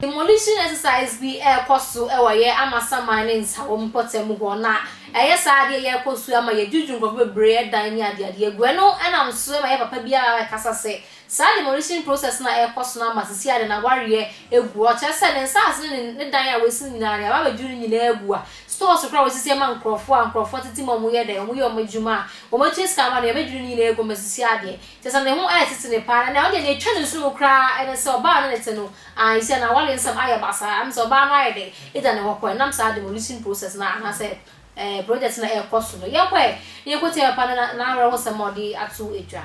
Demolition exercise bi ɛrekɔ so wɔ yɛ Amasaman ne Nsawam mpɔtam hɔ na ɛyɛ saa adeɛ yɛ kɔ so ma yɛ dwudwu nkurɔfoɔ bebree dan ne adeade agu ɛno ɛnam so ma yɛ papa bi a ɛkasa sɛ Saa demolition process no a ɛrekɔ so no ama sisi ade no awareɛ agu hɔ, kyerɛ sɛ ne nsaase ne ne dan a wasi no nyinaa deɛ aba abɛduru no nyinaa agu a stores koraa a wɔsisi ama nkorɔfoɔ a nkorɔfoɔ tete mu a wɔyɛ dɛn, wɔyɛ wɔn adwuma a wɔtua sika ma no nyinaa abɛduru ne nyinaa agu ama sisi adeɛ, kyerɛ sɛ ne ho ɛretete no paa na nea ɔdeɛ nea ɛtwa no nso mu koraa ne sɛ ɔbaa a ɔne no te no aah sisi a n'awareɛ nsɛm ayɛ basaa, ɛne sɛ ɔbaa no ayɛ dɛn agya ne hɔ kɔɛ ɛnam saa demolition process no a anaasɛ eh, project na ɛrekɔ so no, yɛnkɔ ɛ, na yɛnkɔtie papa no n'awerɛhosɛm a ɔde ato dwa.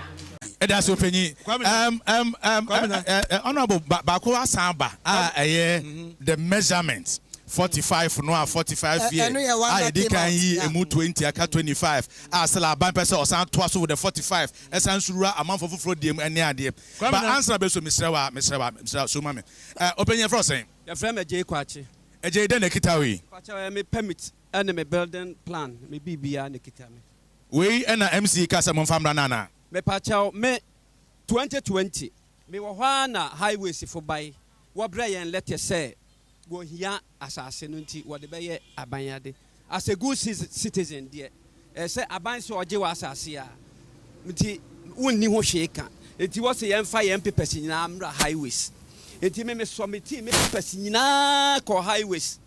Yɛdase Ɔpanyin. Ɛm ɛm ɛm ɛ ɛ ɛ Honourable, ba baako asan aba a ɛyɛ the measurement forty five no a forty five year a yɛdi kan yi ɛmu twenty aka twenty five a still aban pɛ sɛ ɔsan toa so with the forty five ɛsan nso wura amanfoɔ foforɔ deɛ mu ɛne adeɛ ba answer bɛ so mesrɛ wo a mesrɛ wo a mesrɛ wo a so ma me ɛ Ɔpanyin yɛfrɛ wo sɛn? Yɛfrɛ me Agyei Kwakye. Agyei dɛn na ɛkita wo yi? Mpakyɛw ɛyɛ me permit ɛne me building plan me biribiaa na ɛkita me. Wei na MC ka sɛ momfa mmra no anaa? Mepakyɛw me 2020. Me wɔ hɔ ara na highways fo bae wɔ brɛ yɛn letter sɛ wɔ hia asase no nti wɔde bɛyɛ aban ade. As a good citizen deɛ, ɛsɛ sɛ aban sɛ ɔgye w'asase a nti wonni ho hwee ka. Nti wɔse yɛmfa yɛn papers nyinaa mmra highways. Nti me mesɔmetii me papers nyinaa kɔɔ highways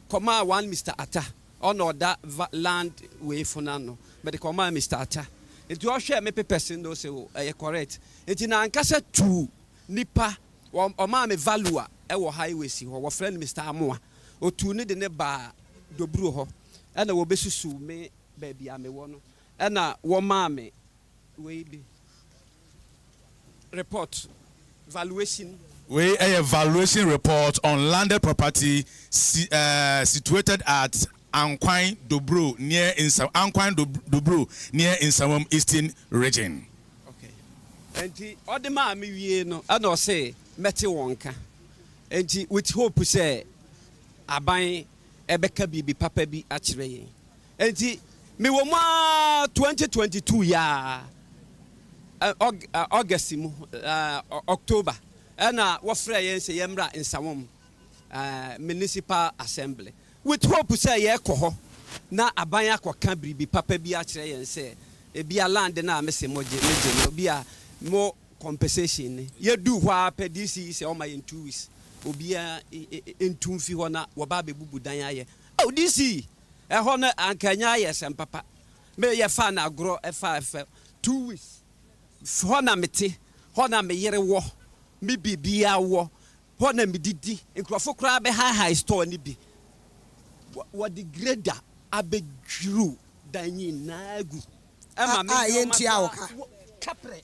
kɔmaa one Mister Attah, ɔna ɔda land wei fo no ano, mede kɔmaa Mister Attah. Nti ɔhwɛɛ me papers no na ose o ɛyɛ correct. Nti n'ankasa tuu nipa, ɔmaa me valuer wɔ highways hɔ, wɔfrɛ no Mister Amoah, otuu no de no baa. Doburo hɔ na wɔbɛsusuw me baabi a mewɔ no na wɔmaa me wei bi report valuation. Wei yɛ valuation report on landed property si eh, situated at Ankwan Doburo near Nsa Ankwan Doburo near Nsawam Eastern Region. Okay. Nti ɔde maa me wie no ɛna ɔse mɛte wɔn nka. Nti with hope sɛ. Aban bɛka biribi papa bi akyerɛ yɛn. Enti mewɔ mu ara 2022 yi ara, August mu, October, ɛna wɔfrɛɛ yɛn sɛ yɛmmra Nsawam Municipal Assembly with hope sɛ yɛrekɔ hɔ na aban akɔka biribi papa bi akyerɛ yɛn sɛ ebia land no a mese mogye, megye no, ebia mo. compensation no yɛduu hɔ ara pɛ DC yi sɛ ɔma yɛn two weeks obiara ntu mfi hɔ na wɔba abɛbubu dan ayɛ oh DC ɛhɔ no anka ɛnyɛ ayɛ sɛm papa me yɛfaa no agorɔ ɛfaa ɛfɛ two weeks hɔ na mete hɔ na me yere wɔ me biribiara wɔ hɔ na medidi nkurɔfo koraa bɛhaehae store no bi wɔde grader abɛdwiriw dan nyinaa gu ɛma me nneɛma koraa kaprɛ.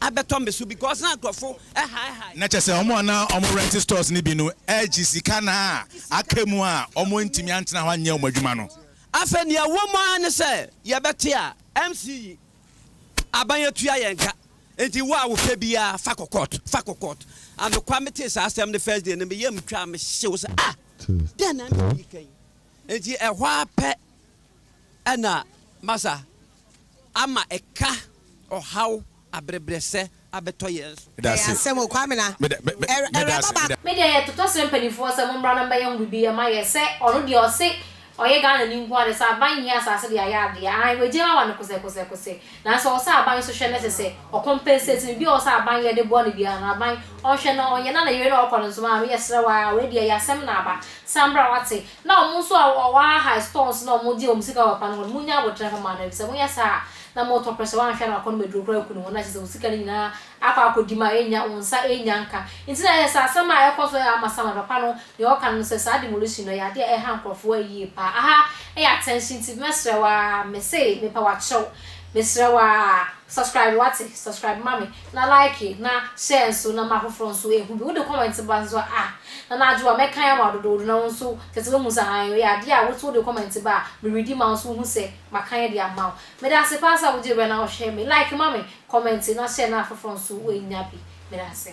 abɛtɔ me so because na nkurɔfo hae hae. Na kyerɛ sɛ wɔn a na wɔn rent stores no bi no regye sika na aka mu a wɔantumi antena hɔ anyɛ wɔn adwuma no. Afei nea ɛwɔ mu ara ne sɛ yɛbɛte a MC yi aban atua yɛn ka nti wo a wopɛ biara fa kɔ court fa kɔ court anokwa metee saa asɛm no first day no me yam twaa me hyew sɛ ah dɛn na MC yi ka yi nti ɛhɔ ara pɛ Ɛna Masa ama ɛka ɔhaw abrebrɛsɛ abɛtɔ yɛn so. Ɛyɛ asɛm o Kwamina ɛwraba baako. Me deɛ yɛ totɔ srɛ mpaninfoɔ sɛ mommra na mbɛyɛ ho bibi ɛma yɛ sɛ ɔno deɛ ɔse ɔyɛ Ghana ni nkoaa deɛ sɛ aban hia asaase deɛ ayɛ adeɛ aane wagyae wawa no kosɛ kosɛ kosɛ nanso ɔwɔ sɛ aban nso hwɛ na ɛsɛ sɛ ɔ compensate no bi a ɔwɔ sɛ aban yɛ de boa no biara no aban ɔnhwɛ na ɔnyɛ na ne yere na ɔkɔ no nso maame yɛ srɛ wo aa wei deɛ yɛ asɛm na aba san bra wate Na wɔn nso a wɔahae stores na wɔgye wɔn sika wɔ akwan no ho no, munnya aboterɛ mfa mma no, efisɛ monyɛ saa a, na moretɔ prɛsɛ, woanhwɛ a na wakɔnom aduro koraa akum ne ho, na kyerɛ sɛ wo sika no nyinaa akɔ akɔdi ma ennya, wo nsa ennya nka. Enti na ɛyɛ sɛ asɛm a ɛkɔ so ama Samuel papa no nea ɔka no ne sɛ, saa demolition no, ɛyɛ ade a ɛha nkurɔfo ara yiye paa. Aha yɛ attention enti mɛsrɛ wo ara, mese mepɛ w'akyerɛw, mesrɛ wo ara, subscribe, woate, subscribe ma me. na like na share nso na ma afoforɔ nso ɛhu bi. Wode comment ba nso a ah na na adwoa mɛkan ama wo dodoodo na wo nso kyerɛ sɛ woahu sɛ hann ɛyɛ adeɛ a wo nso wode comment ba a me readi ma wo nso wohu sɛ makan de ama wo. Medase paa sɛ wogye berɛ na wohwɛ me. Like ma me, comment na share na afoforɔ nso wɔanya bi. Medase.